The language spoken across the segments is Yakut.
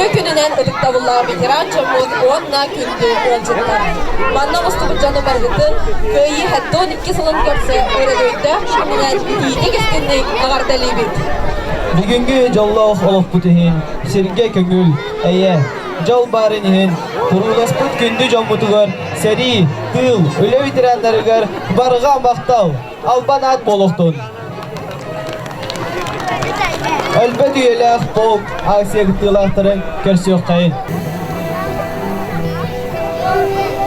Үтүө күнүнэн ытыктабыллаах ветеран дьоммут уонна күндү ыалдьыттар! Манна оҕустубут дьону барыгытын Кыайыы ХЭТТО 12 сылын кэпсэ өрөгөйдөөх кэминэн иитик-истинник эҕэрдэлиибит! Бүгүҥҥү дьоллоох олохпут иһин сиргэ көҥүл, эйэ, дьол баарын иһин курууласпыт күндү дьоммутугар сэрии, тыыл, үлэ ветераннарыгар барҕа махтал! Албанат Болохтун. Өлбөт үйэлээх полк Асиягтылаахтарын көрсүөхтайын.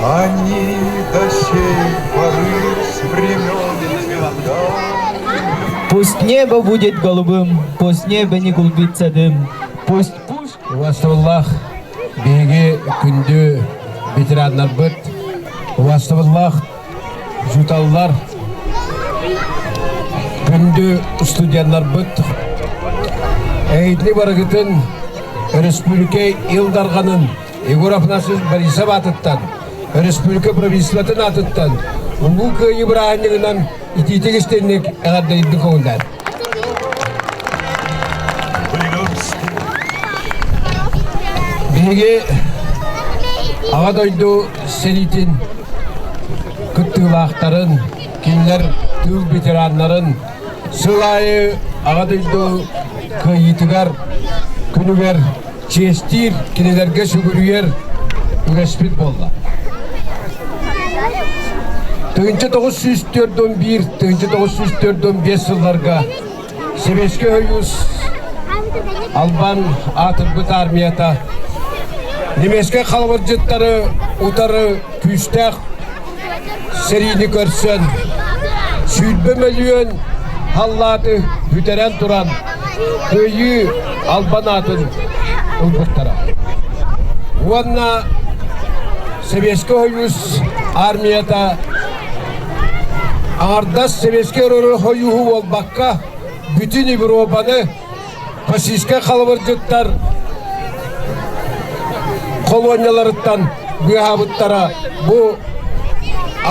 Они до сей поры с времен света. Пусть небо будет голубым, пусть небо не клубится дым, пусть пусть. Уастыбыллах биһиги күндү ветераннарбыт, уастыбыллах Учууталлар күндү студеннарбыт эйдни барыгытын өрөспүүбүлүкэ Ил Дарганын Егор Афанасьевич Борисов аатыттан өрөспүүбүлүкэ правительствотын аатыттан Улуу Кыайыы бырааһынньыгынан итиитик истинник эҕэрдэйдик көҕүллэр. Биһиги Аҕа дойду сэриитин кыттыылаахтарын, кинилэр тыыл ветераннарын сыл аайы Аҕа дойду кыайыытыгар күнүгэр чиэстиир, кинилэргэ сүгүрүйэр үгэспит буолла. Тыһыынча тоҕус сүүс төрт он биир, тыһыынча тоҕус сүүс төрт он биэс сылларга Сэбиэскэй Союз Албан аатырбыт армията немецкай халабырдьыттары утары күүстээх сэриини көрсөн сүүрбэ мөлүйүөн халлааты бүтэрэн туран Кыайыы Албан аатын ылбыттара уонна Сэбиэскэй Хойуус аармыйата аҥардас сэбиэскэй өрө хойууһу буолбакка бүтүн Европаны российскай халабырдьыттар холуонньаларыттан быыһаабыттара бу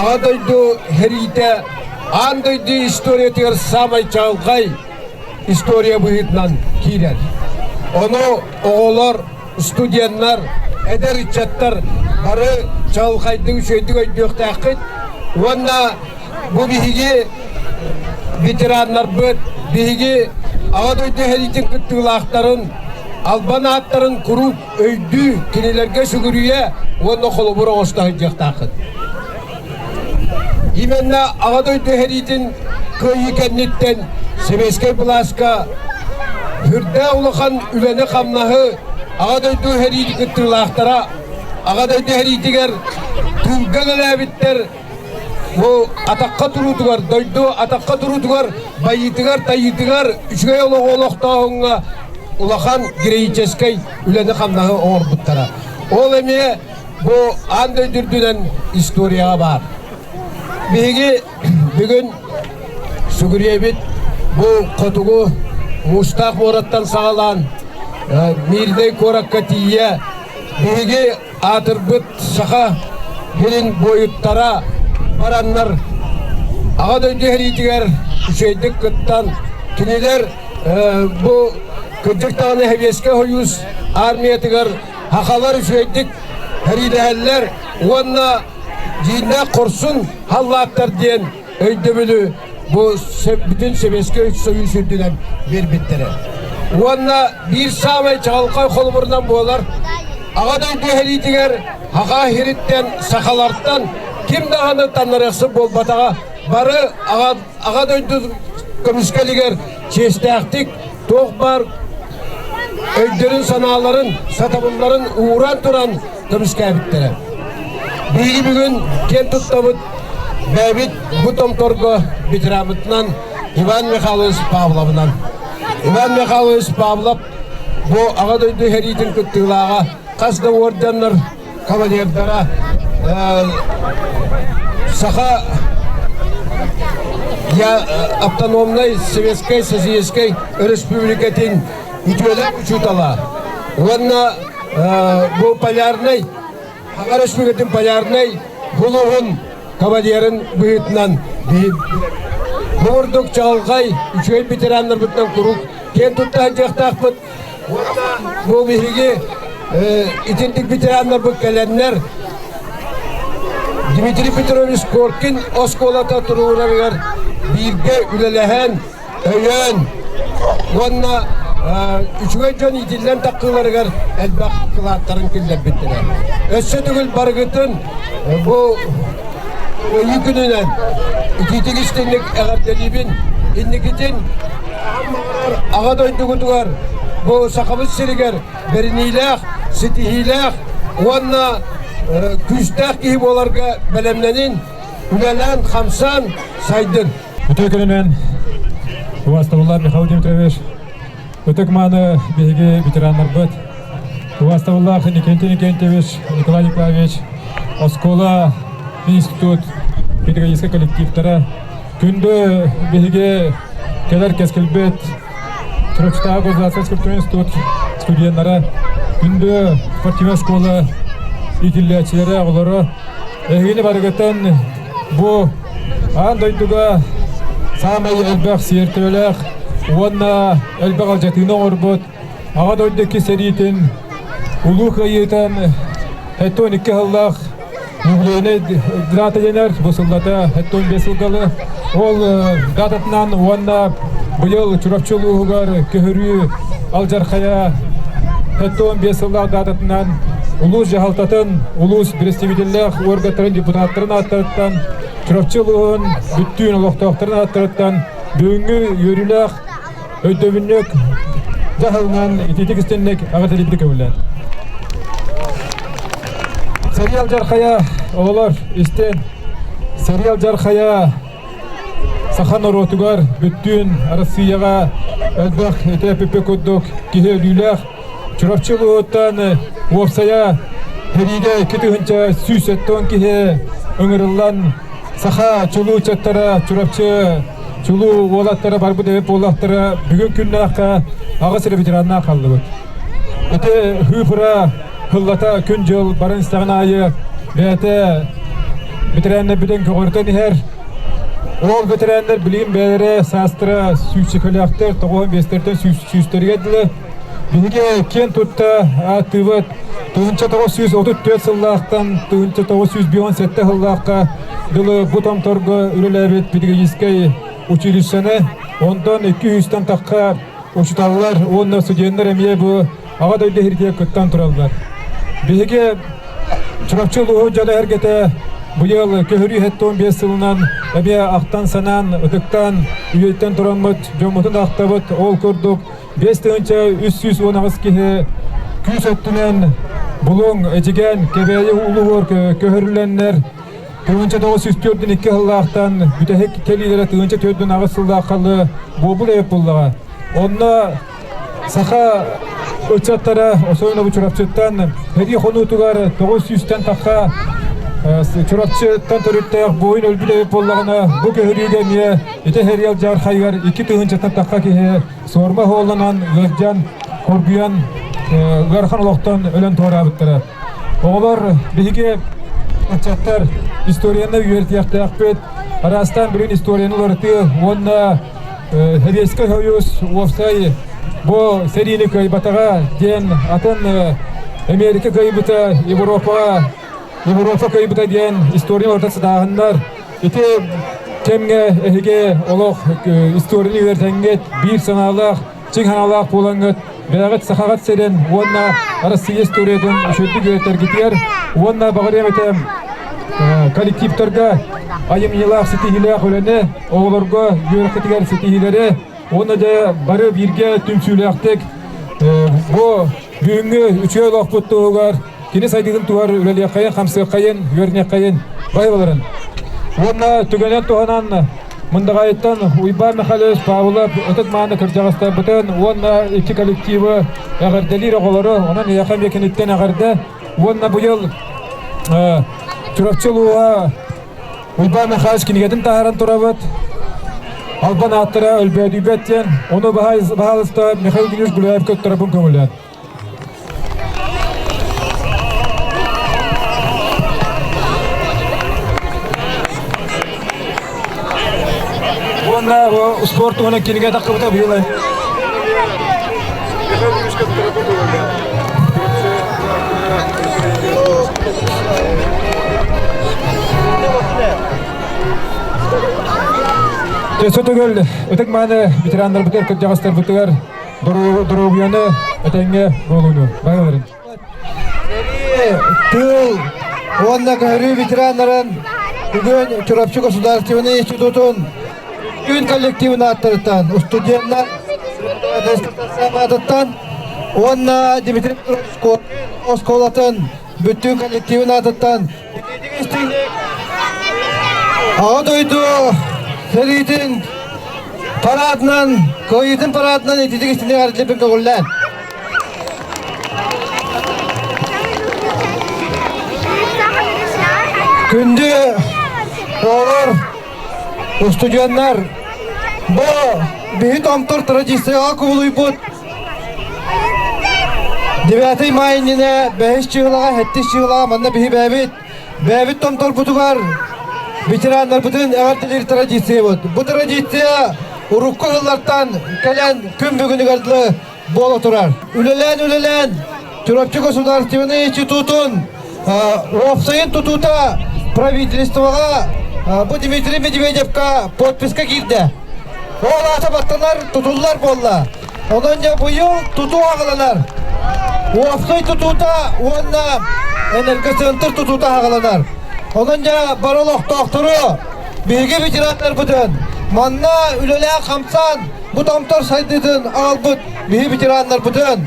Аҕа дойду сэриитэ аан дойду историятыгар саамай чаҕылхай история быһыытынан киирэр. Ону оҕолор, студеннар, эдэр ыччаттар бары чаҕылхайдык үчүгэйдик өйдүөхтээххит уонна бу биһиги ветераннарбыт биһиги аҕа дойду сэриитин кыттыылаахтарын албан ааттарын куруук өйдүү, кинилэргэ сүгүрүйэ уонна холобур оҥосто сылдьыахтааххын. Именно аҕа дойду иһэриитин кыайыы кэнниттэн Сэбиэскэй былааска үрдээх улахан үлэни-хамнаһы аҕа дойду иһэриитин кыттыылаахтара аҕа дойду иһэриитигэр тыылга кэлээбиттэр Бу атахха туруутугар, дойду атахха туруутугар, байыытыгар, тайыытыгар, үчүгэй олоҕу олохтооһуҥҥа улахан героическай үлэни-хамнаһы оҥорбуттара. Ол эмиэ бу аан дойду үрдүнэн историяҕа баар. Биһиги бүгүн сүгүрүйэбит бу хотугу муустаах муораттан саҕалаан Мирнэй куоракка тиийэ биһиги аатырбыт Саха сирин буойуттара бараннар Аҕа дойду сэриитигэр үчүгэйдик кыттан кинилэр бу кырдьык даҕаны Сэбиэскэй Союз армиятыгар сахалар үчүгэйдик сэриилэһэллэр уонна дьииннээх хорсун халлааттар диэн өйдөбүлү бу бүтүн Сэбиэскэй Союз үрдүнэн биэрбиттэрэ. Уонна биир саамай чаҕылхай холобурунан буолар Аҕа дойду иһэлиитигэр Хахаахириттэн, сахалартан ким даҕаны таннарыахсыт буолбатаҕа бары Аҕа дойду көмүскэлигэр чиэстээхтик туох баар өйдөрүн-санааларын, сатабылларын ууран туран көмүскээбиттэрэ. Биһиги бүгүн киэн туттабыт бэйэбит бу томторго ветеранбытынан Иван Михайлович Павловынан. Иван Михайлович Павлов бу Аҕа дойду иһэриитин кыттыылааҕа хас да уордьаннар кавалердара саха я автономнай Советскай Социалистическай Республикатын үтүөлэх учутала уонна бу полярнай Аҕа Республикатын полярнай булуһун кавалерын быһыытынан Бу ордук чаҕылҕай үчүгэй ветераннарбытынан куруук киэн туттаһан дьахтаахпыт Уонна бу биһиги итинник ветераннарбыт кэлэннэр Дмитрий Петрович Коркин оскуолата туруорарыгар бииргэ үлэлэһэн, өйөөн уонна үчүгэй дьон иитиллэн тахсыыларыгар элбэх кылааттарын киллэрбиттэрэ. Өссө төгүл барыгытын бу ыйыы күнүнэн итиитик истинник эҕэрдэлиибин инникитин Аҕам баҕарар Аҕа дойдугутугар бу Сахабыт сиригэр бэриниилээх, ситиһиилээх уонна күүстээх киһи буоларга бэлэмнэнин, үлэлээн-хамсаан сайдын. Бүтэй күнүнэн убаастабыллар Михаил Дмитриевич ытык мааны биһиги ветераннарбыт убаастабыллаах Никентин Никентьевич Николай Николаевич оскуола институт педагогическай коллективтара Күндү биһиги кэлэр кэскилбит Трехстаха государственскай культурный институт студеннара, күндү спортивная школа иитиллээччилэрэ оҕолоро, эһигини барыгытын бу аан дойдуга саамай элбэх сиэр төбөлөөх уонна элбэх алдьатыыны оҥорбут Аҕа дойду икки сэриитин Улуу Кыайыытын сэттэ уон икки сыллаах юбилейнай дата дэнэр. Бу сыллата сэттэ уон биэс сылгалы. Ол дататынан уонна быйыл Чурапчы улууһугар көһөрүү алдьархайа сэттэ уон биэс сыллаах дататынан улуус дьаһалтатын, улуус бэрэстэбиитэллээх уорганнарын депутаттарын ааттарыттан Чурапчы улууһун бүттүүн олохтоохторун ааттарыттан бүгүҥҥү үөрүүлээх өйдөбүнньүк дьаһалынан ититик истинник аҕытилиппи көбүллэн Сериал Жархая оҕолор истин Сериал Жархая саха норуотугар бүттүүн Россияҕа элбэх этэ эппиппи курдук киһи өлүүлээх Чурапчы улууһуттан уопсайа сэриигэ икки тыһыынча сүүс тоҕон киһи ыҥырыллан саха чулуу ыччаттара Чурапчы чулуу уолаттара барбыт эбит буоллахтара бүгүн күннээххэ аҕыс эрэ ветераннаах хааллыбыт. Ити хыыфыра хыллата күн-дьыл баран истэҕин аайы бэйэтэ ветераннарбытын көҕөртөн иһэр. Ол ветераннар билигин бэйэлэрэ саастара сүүсчэкөлөөхтөр, тоҕуон биэстэртэн сүүстэригэр дылы Биһиги киэн тутта ааттыыбыт тыһыынча тоҕус сүүс отут түөрт сыллаахтан тыһыынча тоҕус сүүс бион сэттэ сыллаахха дылы бу томторго үлэлээбит педагогическай училищены онтон икки үстэн тахха учууталлар уонна студеннар эмиэ бу аҕа дойду иһиргигэ кыттан тураллар биһиги чурапчы улууһун дьон эһэргэтэ быйыл көһөрүү хэттон биэс сылынан эмиэ ахтан санаан ытыктаан үйэттэн тураммыт дьоммутун ахтабыт ол курдук биэс тыһыынча үс сүүс уон аҕыс киһи күүс өттүнэн Булуҥ, Эдьигээн, Кэбээйи улууһугар көһөрүлэннэр тыһыынча тоҕус сүүс төрдүн икки сыллаахтан бүтэһик кэлиилэрэ тыһыынча төрдүн аҕыс сыллааххалы буобул эйпуллаҕа. Онно саха ыччаттара особенно Чурапчыттан хэрии хонуутугар тоҕус сүүстэн тахха Чурапчыттан төрүттээх буойун өлбүт эйпуллаҕына бу көһөрүүгэ эмиэ ити Хэриэл Дьаархайыгар икки тыһыынчаттан тахха киһи суорба оһуолунан ыалдьан, кургуйан, ыарахан олохтон өлөн туораабыттара. Оҕолор биһиги ыччаттар историянна үөрэтиэхтээхпит, араастаан билин историяны уларытыы уонна Советский Союз уопсай бу сэриини кыайбатаҕа диэн атын Америка кыайбыта, Европаҕа Европа кыайбыта диэн история уларыта сатааһыннар Ити кэмҥэ эһиги олох историялар тэҥҥит, биир санаалаах, чиҥ санаалаах буолаҥҥыт, бэйэҕит сахаҕыт сирин уонна Арассыыйа историятын үчүгэйдик үөрэтэргитигэр уонна баҕарыам этэ коллективтарга айымньылаах ситиһиилээх үлэни, оҕолорго үөрэххитигэр ситиһиилэри, Уонна дьэ бары бииргэ түмсүүлээхтик бу бүгүҥҥү үтүө олохпут туһугар кини сайдыытын туһар үлэлиэххэйин, хамсыаххайын, үөрүниэххэйин баһыыларын. Уонна түгэнэн туһанан Мындаҕайыттан Уйбаан Михайлович Павлов ытык-мааны кырдьаҕастарбытын уонна икки коллективы эҕэрдэлиир оҕолору, онон Эйэхэ Миэкиниттэн эҕэрдэ уонна быйыл Чурапчы улууһа Уйбаан Михайлович кинигэтин таһааран турабыт. Албан ааттара өлбөөдүйбэт диэн, ону баһаалыста Михаил Геннадьевич Гуляев көттөрөпүн көҥүллээн. Уонна спорт уонна кинигэ тахқыбыта быйылай. Сотугул ытык мааны ветераннарбытыгар кырдьаҕастарбытыгар доруобуйаны этэҥҥэ буолууну байаларын. Тыл уонна көһөрүү ветераннарын бүгүн Чурапчы государственнай институтун Үн коллективын ааттарыттан, устудьуоннар сааматыттан уонна Дмитрий оскуолатын бүттүүн коллективин аатыттан Аҕа дойду сэриитин параадынан, кыайыытын параадынан ититик истини арылдьыппын көҕүллээн. Күндү оҕолор Устудьуоннар, бу бүһүт омтор традицияҕа кубулуйбут девятый май иннинэ бэһис чыылаҕа сэттис чыылаҕа манна биһи бэйэбит бэйэбит томторбутугар ветераннарбытын эҕэрдэлиир традициябыт. Бу традиция урукку сыллартан кэлэн күн бүгүнүгэр дылы Буола турар. Үлэлээн, үлэлээн Чурапчы государственнай институтун уопсайын тутуута правительствоҕа бу Дмитрий Медведевка подписка киирдэ. Ол аата баттанар тутуллар буолла. Онон дьэ быйыл тутуу аҕаланар. Уопсай тутуута уонна энергоцентр тутуута аҕаланар. Онон дьэ бары олохтоохтору, биһиги ветераннарбытын манна үлэлээн-хамсаан Бу томтор сайдыытын аҕалбыт биһи ветераннарбытын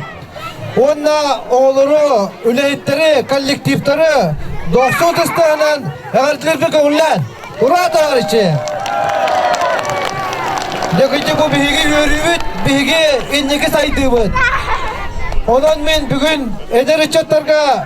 уонна оҕолору, үлэһиттэри, коллективтары дохсун ытыс таһынан эҕэрдэлэрбин көҥүллээн ура товарищи! Дьэкидьэ бу биһиги үөрүүбүт, биһиги инники сайдыыбыт. Онон мин бүгүн эдэр ыччаттарга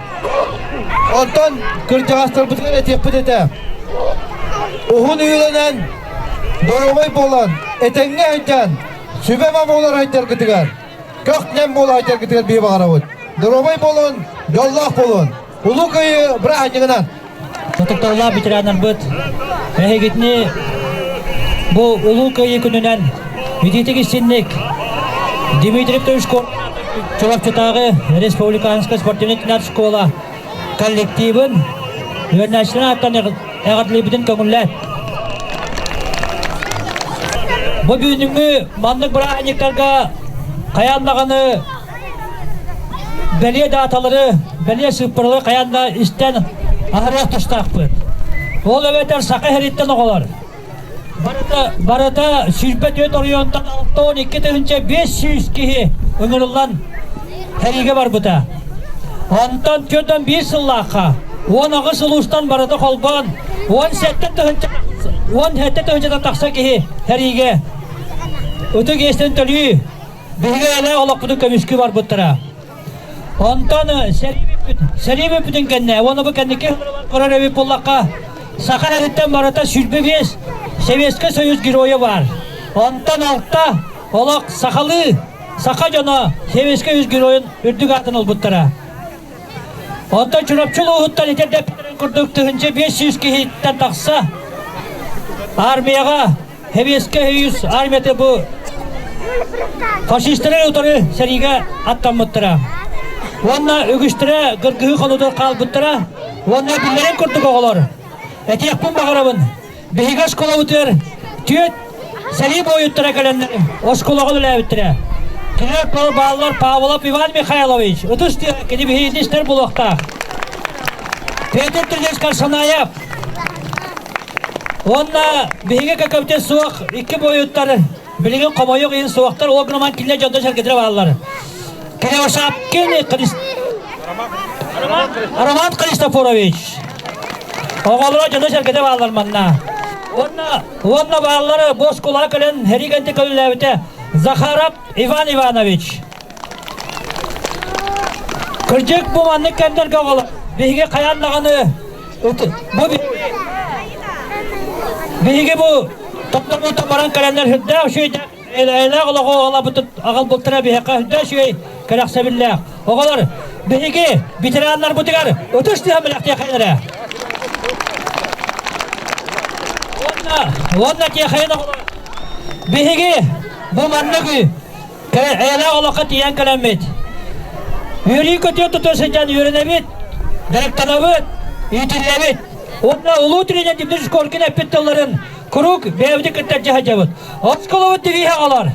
Онтон кырдьаҕастарбытыгар этиэхпит этэ. Уһун үйэлэнэн, доруобай буолан, этэҥҥэ сылдьан, сүбэ-ама буолар айдаргытыгар, көх-нэм буолар айдаргытыгар биир баҕарабыт. Доруобай буолун, дьоллоох буолун. Улуу кыайыы быраанньыгынан! Тутуллаах ветеранарбыт эһигитини бу Улуу Кыайыы күнүнэн Видите гостиник Дмитрий Петрович Чурапчытааҕы республиканскай спортивнай школа коллективын үөрэнээччилэрин ааттан эҕэрдэлиибитин көҥүллэт. Бу бүгүҥҥү маннык бырааһынньыктарга хайаан даҕаны бэлиэ дааталары бэлиэ сыыппаралары хайаан да истэн аһарыах тустаахпыт ол эбэтэр саха иһэриттэн оҕолор барыта барыта сүүрбэ түөрт оройуонтан алта он икки тыһыынча биэс сүүс киһи ыҥырыллан эриигэ барбыта онтон түөрт он биир сыллаахха уон аҕыс улуустан барыта холбоон уон сэттэ тыһыынча уон сэттэ тыһыынчата тахса киһи эриигэ ытык иэстэн төлүү Биһиги элэ олохпутун көмүскүү барбыттара. Онтон сэрии бүппүтүн кэннэ уонна бу кэнники көрөр эбит буллахха саха эриттэн барыта сүлбэ биэс Советскай Союз геройа бар. Онтон алта олох сахалыы саха дьоно Советскай Союз геройун үрдүк аатын ылбыттара. Онтон Чурапчы улууһуттан итирдэппитэрин курдук тыһынча биэс сүүс киһиттэн тахса армияҕа Сэбиэскэй Союз армията бу фашистары утары сэриигэ аттаммыттара. Уонна үгүстэрэ кыргыһыы хонуутун хаалбыттара. Уонна биллэрин курдук оҕолор, этиэхпин баҕарабын, биһиги оскуолабытыгар түөрт сэрии буойуттара кэлэннэр оскуолаҕа үлэлээбиттэрэ. Кинилэр бааллар Павлов Иван Михайлович, ытыс диэн кини биһиги истэр булуохтаах. Петр Тридевич Карсанаев, Уонна биһиги көкөбүтэ суох икки буойуттар билигин хомойуох иһин суохтар ол гынан кинилэр дьонго сэргэтирэ бараллар. Кривошапкин Роман Христофорович оҕолоро дьоно сэргэтэ бараллар манна. Уонна уонна бааллары боскулака көлөн херигенти көллээбитэ Захаров Иван Иванович Кырдьык бу маннык кэмнэргэ оҕолор биһиги хайаан даҕаны бу биһиги бу тоттомуутта баран кэлэннэр үрдээх үчүгэйдээх эйэлээх олоҕу олобутут аҕал бултара биһиэхэ үрдээх үчүгэй кэрэхсэбиллээх оҕолор биһиги ветераннарбытыгар ытыс тыһан бэлэхтиэхэлэрэ уонна уонна тиэхэйин оҕолор биһиги бу маннык Эйэлээх олоххо тиийэн кэлэммит. Үөрүү көтүө тутуо сылдьан үөрэнэбит, директорабыт, иитиллэбит. Уонна улуу тренер Дмитрий Шкоркин эппит тылларын куруук бэйэбитин кытта дьаһадьабыт. Осколобут девиһэ қалар.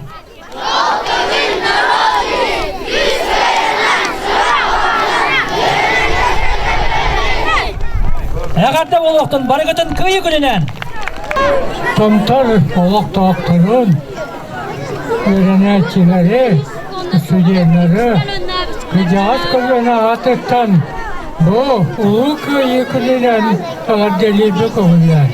Эҕэрдэ олохтун барыгытын кыйы күнүнэн! Тымтар олохтоохторун үөрэнээччилэри, студеннары кырдьаҕас көлүөнэ аатыттан бу Улуу Кыайыы күнүнэн эҕэрдэлиирбит көҕүлээн.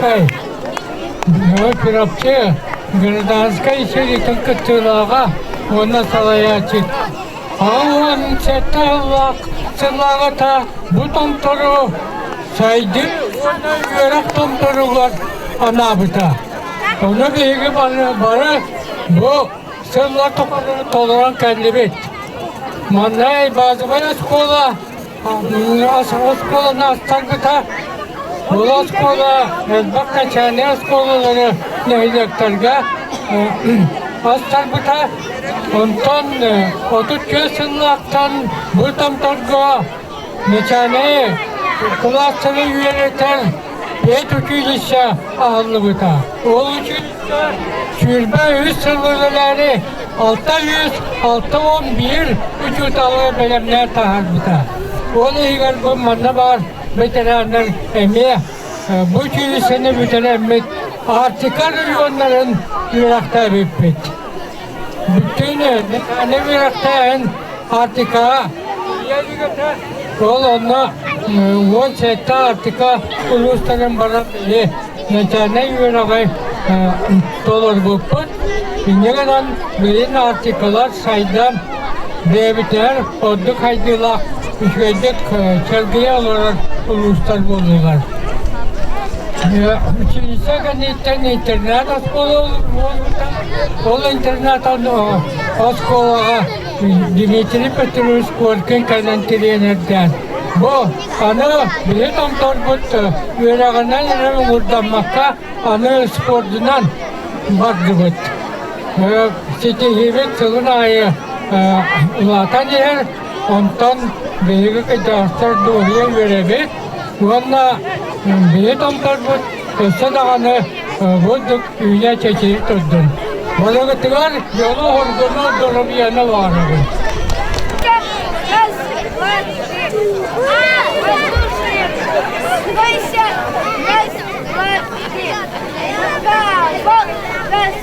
Давай Перовче гражданскай сиритин кыттыылааҕа уонна салайааччы Халлаанча тыаллаах сылаҕата бу томтору сайдыы уонна үөрэх томторугар анаабыта. Ону биһиги бары, бары бу сыллар тухары толорон кэллибит. Маннай базовая школа оскуоланы астарбыта ол оскуола элбэх качаальнай оскуолалары нэһилиэктэргэ астарбыта онтон отут түөрт сыллаахтан бу томторго начальнай кылаастары үөрэтэр Лето киинэssä аһыллыбыта. Ол үчүн сүүрбэ үс сыллыгылаары алта yüz алта он бир учууталы бэлэмнээн таһаарбыта. Ол иһигэр бу манна баар ветераннар эмиэ бу училищены бүтэрэммит Арктика регионнарын үөрэхтээбиппит. Бүтэйгэ Михаил үөрэхтээн Артикаҕа тиийэ үлүгэтэ ол онно уон сэттэ Артика улуустарын баран били начальнай үөрэҕи толорбуппут. Инньэ гынан билин Артикалар сайдан бэйэбитигэр ордук хайдыылаах үчүгэйдик сэргийэ олорор улуустар буоллулар. Училище кэнниттэн интернат оскуола ол интернаттан оскуолаҕа Дмитрий Петрович Коркин кэлэн тириэнэрдээн. Бу аны били томторбут үөрэҕинэн эрэ уурдаммакка аны спордунан бардыбыт. ситиһиибит сылын аайы улаатан иһэр. Онтон биһиги кыдьаастар дуоһуйа үөрэбит уонна биһи томторбут өссө даҕаны булдук үүнэ-чэчирии турдун. Балыгытыгар дьолу хоргуну доломияны баарабын. Раз, два, три. Раз, два, три.